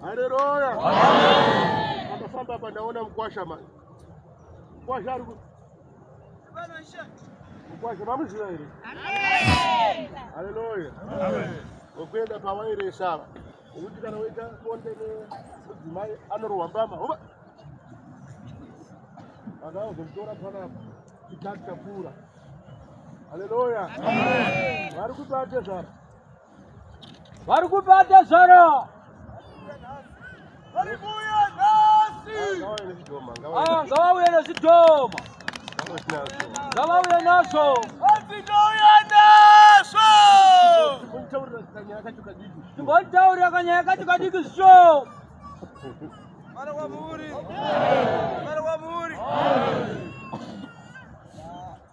Haleluya. Akafamba hapa naona mkwasha mani. Mkwasha ari Mkwasha mamuziva here? Amen. Haleluya. Amen. Ngokuenda pawairesa ava. Ngokuti kana woita bonde nemudzimai anorohwa mbama. Hova. Akazomutora panapa. Chitatu chapfuura. Haleluya. Amen. Vari kubate zvara. vari kupa tezvara aya ngavauye nezvidhoma ngavauye nazvo timbonitaurira kanyaya kacho kadiki zvisho Mara wa muri. Mara wa muri.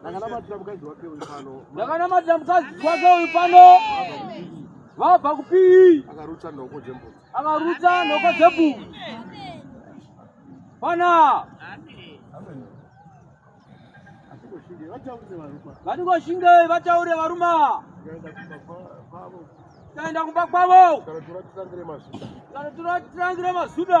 ndakanamatira mukadzi wake uyu pano ndakanamatira mukadzi wake uyu pano vabva kupii akarutsa nhoko dzembudzi akarutsa nhoko dzembudzi pana vatingoshingei vataure varuma taenda kumba kwavo kana tiratirangira mazuda